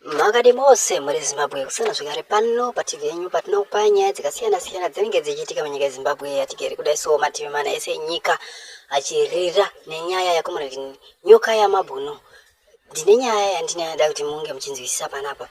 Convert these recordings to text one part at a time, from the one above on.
makadi mose muri zimbabwe kusana zvekare pano pativi yenyu patinokupa nyaya dzakasiyana siyana dzinenge dzichiitika munyika yezimbabwe yatigere kudai so mativi mana ese enyika achirira nenyaya yakomunati nyoka yamabhunu ndine nyaya yandinayada kuti munge muchinzwisisa panapa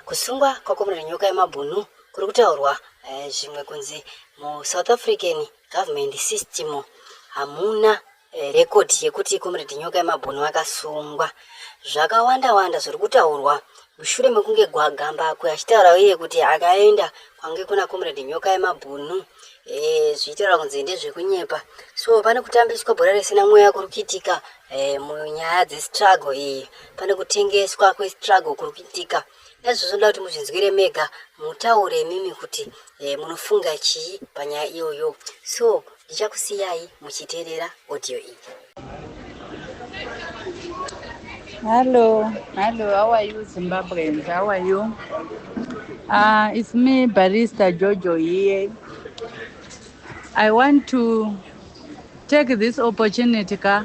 kusungwa kwakomunati nyoka yamabhunu kuri kutaurwa eh, zvimwe kunzi musouth african government system hamuna Rekodhi yekuti Comrade Nyoka Yemabhunu akasungwa, zvakawanda wanda zviri kutaurwa mushure mekunge Gwagambakwe achitaura iye kuti akaenda kwange kuna Comrade Nyoka Yemabhunu e, zvichitaura kunzi ndezvekunyepa. So pane kutambiswa bhora risina mweya kuri kuitika e, munyaya dzestruggle iyi, pane kutengeswa kwestruggle kuri kuitika. Ezvo zvoda kuti muzvinzwire mega mutaure imimi kuti eh, munofunga chii panyaya iyoyo so ndichakusiyai muchiteerera audio iyi Hello, hello, how are you Zimbabweans? How are you? Uh, it's me, Barista Jojo here. I want to take this opportunity ka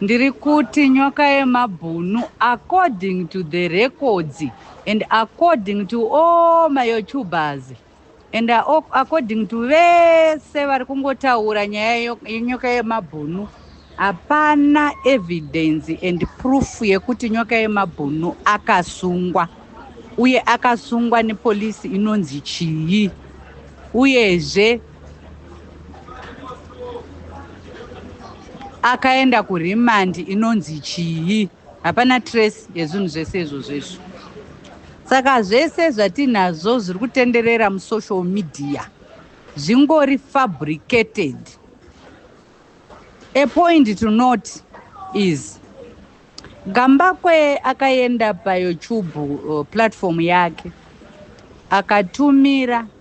Ndiri kuti nyoka yemabhunu according to the records and according to all maYoutubers and according to vese vari kungotaura nyaya yenyoka yemabhunu hapana evidence and proof yekuti nyoka yemabhunu akasungwa uye akasungwa nepolisi inonzi chii uyezve akaenda kuremandi inonzi chii hapana trace yezvinhu zvese izvozvo izvo saka zvese zvatinazvo zviri kutenderera musocial media zvingori fabricated a point to not is gambakwe akaenda payoutube uh, platform yake akatumira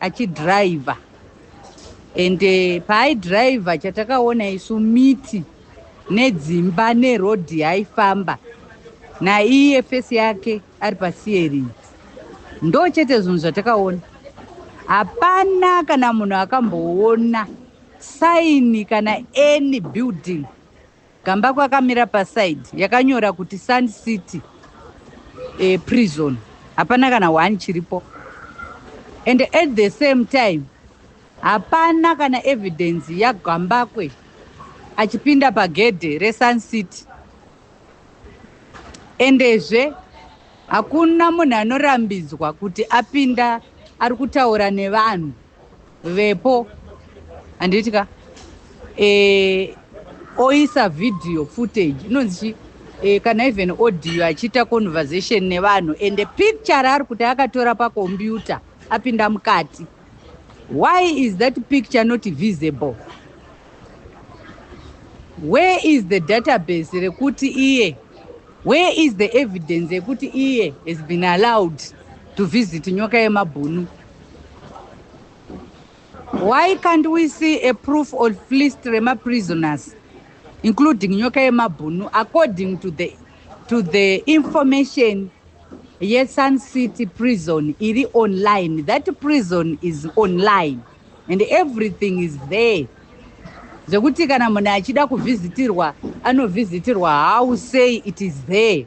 achidriver and eh, paaidriver chatakaona isu miti nedzimba neroad yaifamba naiye fesi yake ari pasierii ndo chete zvinhu zvatakaona hapana kana munhu akamboona saini kana any building Gambakwe akamira paside yakanyora kuti Sun City e, prison. Hapana kana one chiripo. And at the same time hapana kana evidence yaGambakwe achipinda pagedhe reSun City. Endezve hakuna munhu anorambidzwa kuti apinda ari kutaura nevanhu. vepo handiti ka e, oisa video footage inonzi chi e, kana even audio achiita conversation nevanhu and picture raari kuti akatora pakombiyuta apinda mukati why is that picture not visible where is the database rekuti iye where is the evidence yekuti iye has been allowed to visit nyoka yemabhunu Why can't we see a proof of list rema prisoners including nyoka yemabhunu according to the, to the information yesun city prison iri online that prison is online and everything is there zvekuti kana munhu achida kuvhizitirwa anovhizitirwa how say it is there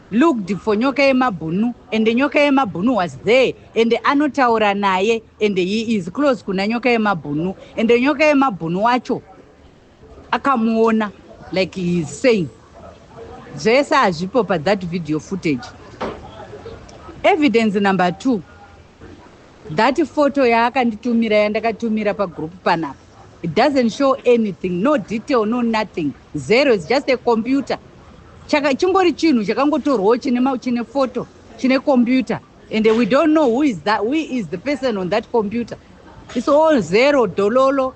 looked for nyoka yemabhunu and nyoka yemabhunu was there and anotaura naye and he is close kuna nyoka yemabhunu and nyoka yemabhunu wacho akamuona like he is saying zvese hazvipo pathat video footage evidence number two that photo yaakanditumira yandakatumira pagroup panapa It doesn't show anything, no detail, no nothing. Zero, it's just a computer. Chaka, chingori chinhu chakangotorwawo chine, chine photo, chine computer. And we don't know who is, that, who is the person on that computer. It's all zero, dololo.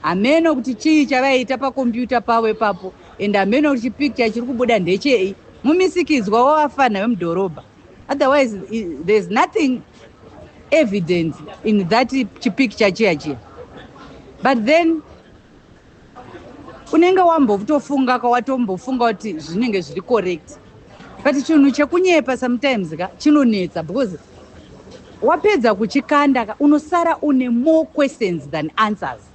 Hameno kuti chii chavaiita pakompyuta pavo ipapo and hameno kuti chipicture chiri kubuda ndechei mumisikidzwa wavafana vemudhorobha. otherwise there's nothing evidence in that chipicture chiya chiya but then unenge wambotofunga kawatombofunga kuti zvinenge zviri correct but chinhu chekunyepa sometimes ka chinonetsa because wapedza kuchikanda ka unosara une more questions than answers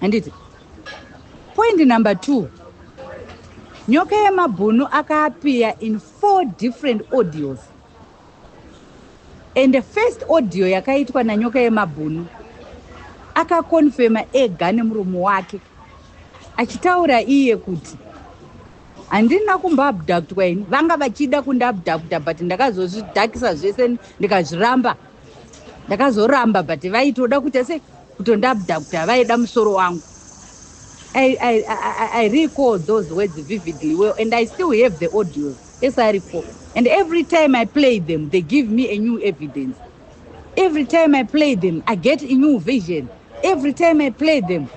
handiti point number two nyoka yemabhunu akaapiya in four different audios and the first audio yakaitwa nanyoka yemabhunu akakonfema ega nemurume wake achitaura iye kuti handina kumboabductwa ini vanga vachida kundiabducta but ndakazozvidhakisa zvese ndikazviramba ndakazoramba but vaitoda kuita sei Kutondabdabda vaida musoro wangu. I, I, I, I recall those words vividly well and I still have the audios esaripo and every time I play them they give me a new evidence every time I play them I get a new vision every time I play them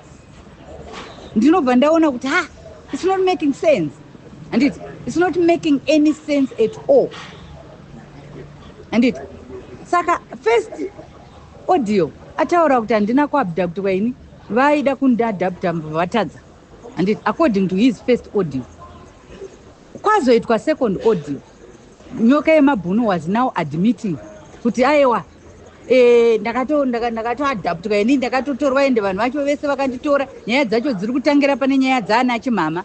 ndinobva ndaona kuti ha it's not making sense and it, it's not making any sense at all and it saka first Audio ataura kuti handina kuabductwa ini vaida kundiadapta vatadza handiti according to his first audio kwazoitwa second audio nyoka yemabhunu was now admitting kuti aewa eh, ndakatoadaptwa ini ndakatotorwa ende vanhu vacho vese vakanditora nyaya dzacho dziri kutangira pane nyaya dzaana chimhama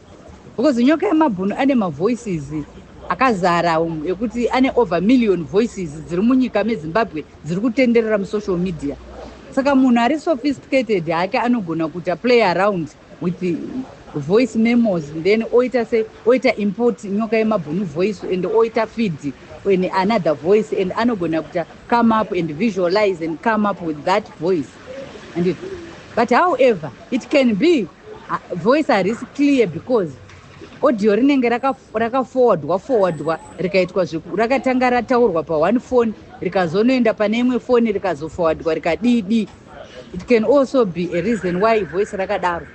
because nyoka yemabhunu ane mavoices akazara umu ekuti ane over million voices dziri munyika mezimbabwe dziri kutenderera musocial media saka munhu ari sophisticated hake anogona kuita play around with voice memos then oita se oita import nyoka yemabhunu voice and oita feed in another voice and anogona kuita come up and visualize and come up with that voice handiti but however it can be uh, voice harisi clear because audio rinenge rakaforwardwa forwardwa rikaitwa zveku rakatanga rataurwa paone phone rikazonoenda pane imwe foni rikazoforwardwa rikadidi it can also be a reason why voice rakadaro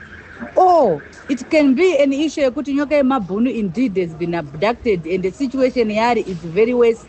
or it can be an issue yekuti nyoka yemabhunu indeed has been abducted and the situation yaari is very worse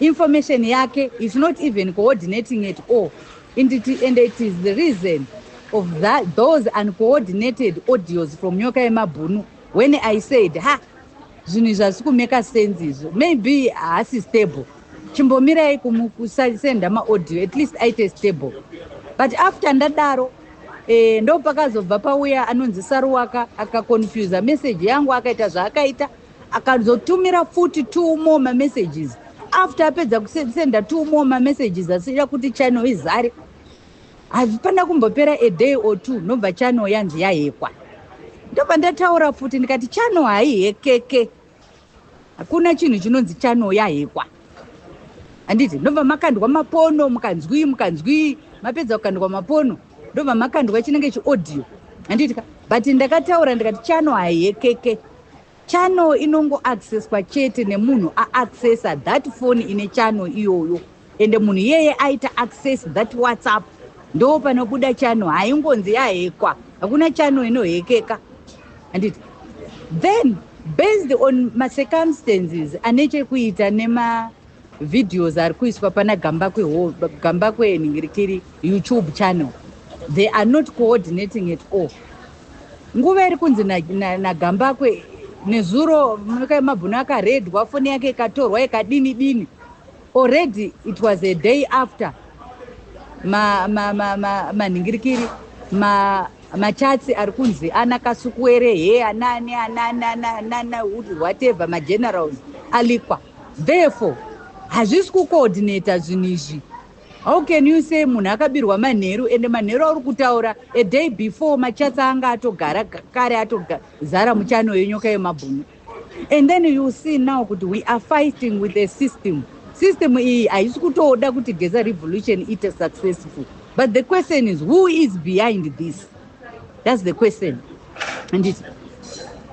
information yake is not even coordinating at all and it, and it is the reason of that, those uncoordinated audios from nyoka yemabhunu when i said ha zvinhu izvi hazvi kumeka sense izvo maybe haasi stable chimbomirai kumusasenda maaudio at least aite stable but after ndadaro eh, ndopakazobva pauya anonzi saruwaka akaconfusa message yangu akaita zvaakaita akazotumira futi two more mamessages after apedza kusenda two more mamessages asiira kuti channel izare hazvipana kumbopera a day or two nobva channel yanzi yahekwa ndobva ndataura futi ndikati channel haihekeke hakuna chinhu chinonzi channel yahekwa handiti ndobva makandwa mapono mukanzwii mukanzwii mapedza kukandwa mapono ndobva makandwa chinenge chiaudio handiti ka but ndakataura ndikati channel haihekeke Channel inongo accesswa chete nemunhu a accessa that phone ine channel iyoyo ende munhu iyeye aita access that whatsapp ndo panobuda channel haingonzi yahekwa hakuna channel inohekeka handiti then based on macircumstances ane chekuita nema Videos ari kuiswa pana Gambakwe ho Gambakwe nhingirikiri YouTube channel they are not coordinating at all. Nguva iri kunzi na, na, na Gambakwe nezuro mabhunu akaredwa foni yake ikatorwa ikadini dini already it was a day after manhingirikiri ma, ma, ma, ma, machatsi ari kunzi ana kasukuwere he anani anani anani whatever magenerals alikwa therefore hazvisi kucoordinator zvinhu izvi how can you say munhu akabirwa manheru ende manheru auri kutaura a day before machatsa anga atogara kare atozara muchano yenyoka yemabhunu and then you see now kuti we are fighting with a system system iyi haisi kutoda kuti geza revolution ite successful but the question is who is behind this That's the question. And it,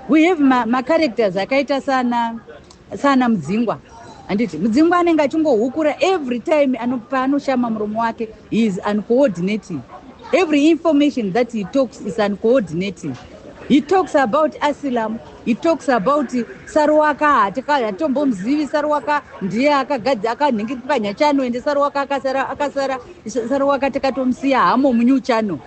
we have ma, ma characters akaita sana sana mudzingwa handiti mudzingwa anenge achingohukura every time paanoshama muromo wake he is uncoordinating every information that he talks is uncoordinating he talks about asilam he talks about saruwaka hatitombomuzivi saruwaka ndiye akagadzi akanhingirika nyachano ende saruwaka akasara akasara saruwaka takatomusiya hamo munyuchano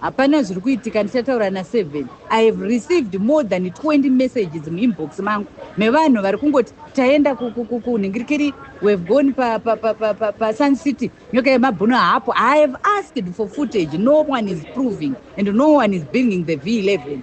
Hapana zviri kuitika ndichataura na Seven. I have received more than 20 messages muinbox mangu mevanhu vari kungoti taenda kunhingirikiri we have gone pa, pa, pa, pa, pa, pa Sun City nyoka yemabhunu haapo. I have asked for footage no one is proving and no one is bringing the V11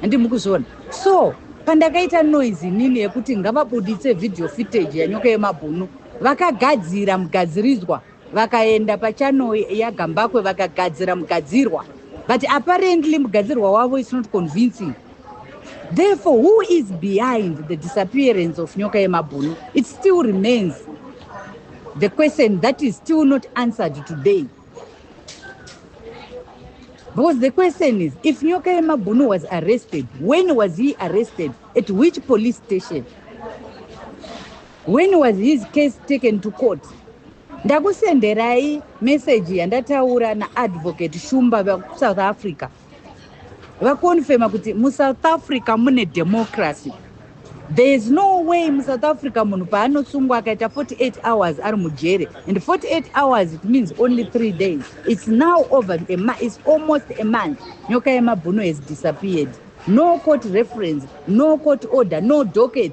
handi mukuzviona so pandakaita noise inini yekuti ngavabuditse video footage yanyoka yemabhunu vakagadzira mugadziridzwa Vakaenda pachannel yaGambakwe vakagadzira mugadzirwa but apparently mugadzirwa wavo is not convincing. Therefore, who is behind the disappearance of Nyoka Yemabhunu? It still remains the question that is still not answered today. Because the question is, if Nyoka Yemabhunu was arrested, when was he arrested? At which police station? When was his case taken to court? Ndakusenderai message yandataura na advocate Shumba vaku South Africa. Vakonfirma kuti mu South Africa mune democracy. There is no way mu South Africa munhu paanosungwa akaita 48 hours ari mujere and 48 hours it means only 3 days. It's now over a month, it's almost a month. Nyoka yemabhuno has disappeared. No court reference, no court order, no docket.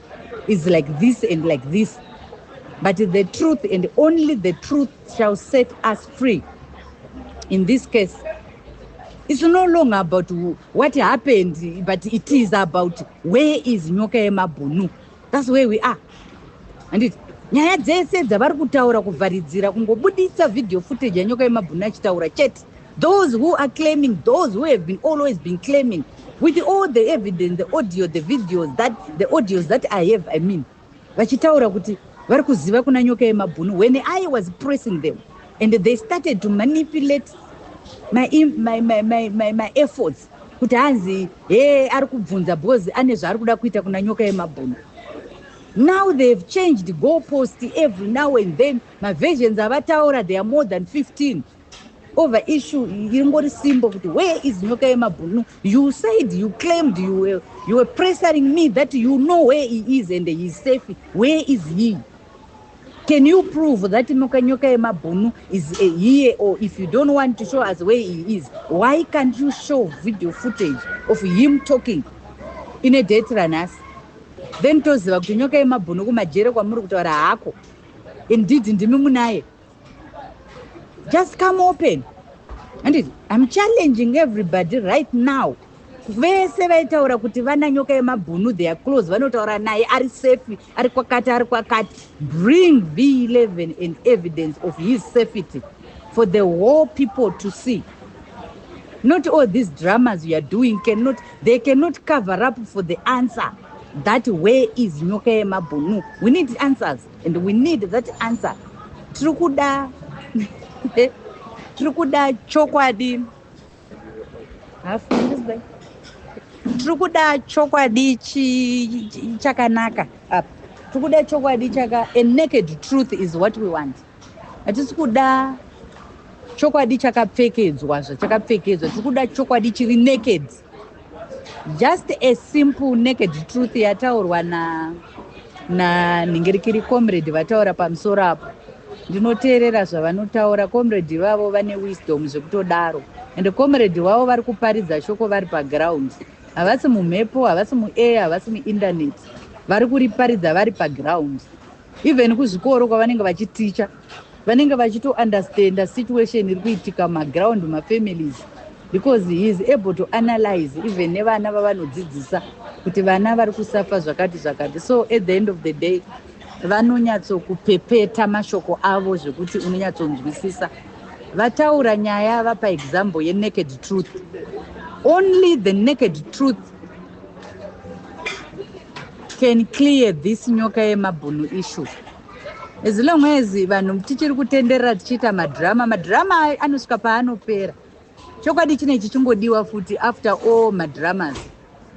is like this and like this but the truth and only the truth shall set us free in this case it's no longer about what happened but it is about where is nyoka yemabhunu that's where we are anditi nyaya dzese dzavari kutaura kuvharidzira kungobudisa video footage yanyoka yemabhunu achitaura chete Those who are claiming, those who have been always been claiming, with all the evidence, the audio, the videos, that, the audios that I have, I mean, vachitaura kuti vari kuziva kuna nyoka yemabhunu when I was pressing them and they started to manipulate my, my, my, my, my, my efforts kuti hanzi he ari kubvunza because ane zvaari kuda kuita kuna nyoka yemabhunu now they have changed goal post every now and then maversions avataura they are more than 15 over issue ingori simbo kuti where is nyoka yemabhunu you said you claimed you were, you were pressuring me that you know where he is and he is safe where is he can you prove that nyoka nyoka yemabhunu is a here or if you don't want to show us where he is why can't you show video footage of him talking in a date ranhasi then toziva kuti nyoka yemabhunu kumajere kwamuri kutaura hako indeed ndimi munaye just come open handiti im challenging everybody right now vese vaitaura kuti vana nyoka yemabhunu their close vanotaura naye ari safe ari kwakati ari kwakati bring v 11 and evidence of his safety for the whole people to see not all these dramas youare doing cannot they cannot cover up for the answer that way is nyoka yemabhunu we need answers and we need that answer tiri kuda tiri kuda chokwadi tiri kuda chokwadi chakanaka apa tiri kuda chokwadi chaka a naked truth is what we want hatisi kuda chokwadi chakapfekedzwa zvachakapfekedzwa tiri kuda chokwadi chiri naked just a simple naked truth yataurwa na nanhingirikiri comrade vataura pamusoro apo ndinoteerera zvavanotaura comrade ivavo vane wisdom zvekutodaro and comrade wavo vari kuparidza shoko vari paground havasi mumhepo havasi muair havasi muinternet vari kuriparidza vari paground even kuzvikoro kwavanenge vachiticha vanenge vachito understanda situation iri kuitika maground mafamilies because he is able to analyze even nevana vavanodzidzisa kuti vana vari kusafa zvakati zvakati so at the end of the day vanonyatsokupepeta mashoko avo zvekuti unonyatsonzwisisa vataura nyaya vapa example yenaked truth only the naked truth can clear this nyoka yemabhunu issue As long as vanhu tichiri kutenderera tichiita madhirama, madhirama anosvika paanopera. Chokwadi chine chichingodiwa futi after all madhiramas.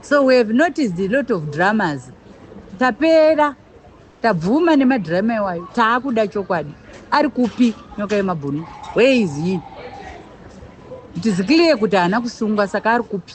So we have noticed a lot of dramas. Tapera, tabvuma nemadhirama iwayo, taakuda chokwadi. Ari kupi nyoka yemabhunu? Where is he? It is clear kuti haana kusungwa saka ari kupi?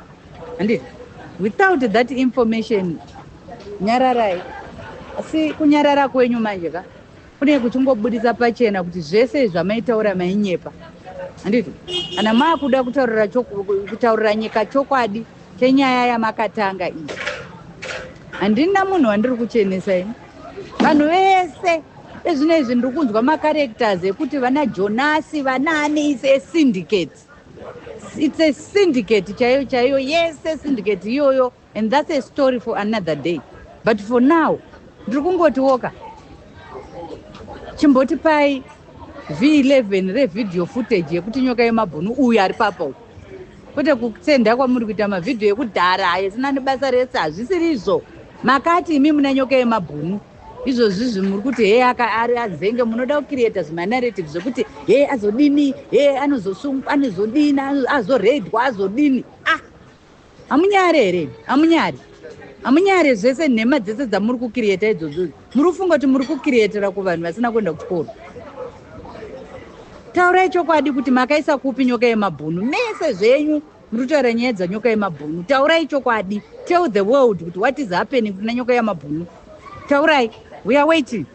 Handiti without that information nyararai asi kunyarara kwenyu manje ka kune kuchingobudisa pachena kuti zvese zvamaitaura mainyepa handiti kana maakuda kutaurira kutaurira nyika chokwadi chenyaya yamakatanga iyi handina munhu wandiri kuchenesa ini vanhu vese ezvino izvi ndiri kunzwa macarectors ekuti vana jonasi vanaani is a syndicate It's a syndicate chaiyo chaiyo yese syndicate iyoyo and that's a story for another day but for now ndiri kungotiwoka chimboti pai v11 revideo footage yekuti nyoka yemabhunu uyu ari papa uyu kwete kusenda kwamuri kuita mavhidhiyo ekudhara ayo sina nebasa rese hazvisiri izvo makati imi muna nyoka yemabhunu izvozvizvi muri kuti hee ari adzenge munoda kucreata zvimanarrative zvekuti hee azodini hee anozosungwa anozodini azoraidwa azodini ah hamunyari here hamunyari hamunyari zvese nhema dzese dzamuri kucreata idzozvozi muri kufunga kuti muri kucreatira kuvanhu vasina kuenda kuchikoro taurai chokwadi kuti makaisa kupi nyoka yemabhunu mese zvenyu Murikutaura nyaya dzanyoka yemabhunu taurai chokwadi tell the world kuti what is happening kuna nyoka yamabhunu taurai we are waiting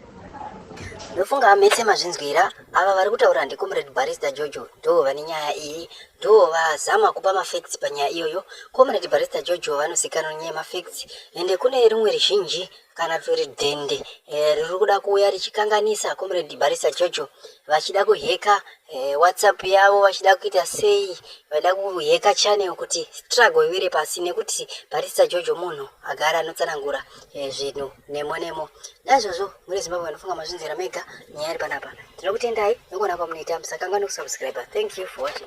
ndofunga mese mazvinzwira ava vari kutaura ndicomrade barista jojo ndo vane nyaya iyi ndo vazama kupa mafacts panyaya iyoyo comrade barista jojo vanozikanwa nyaya yemafacts ende kune rimwe rizhinji kana turi dhende eh, riri e, kuda kuuya richikanganisa comrade barisa jojo vachida kuheka e, whatsapp yavo vachida kuita sei vaida kuheka channel kuti struggle iwire pasi nekuti barisa jojo munhu agara anotsanangura e, zvinhu nemo nemo naizvozvo muri zimbabwe vanofunga mazvinzira mega nyaya iri panapa tinokutendai nekuona kwamunoita musakangwa nekusubscribe thank you for watching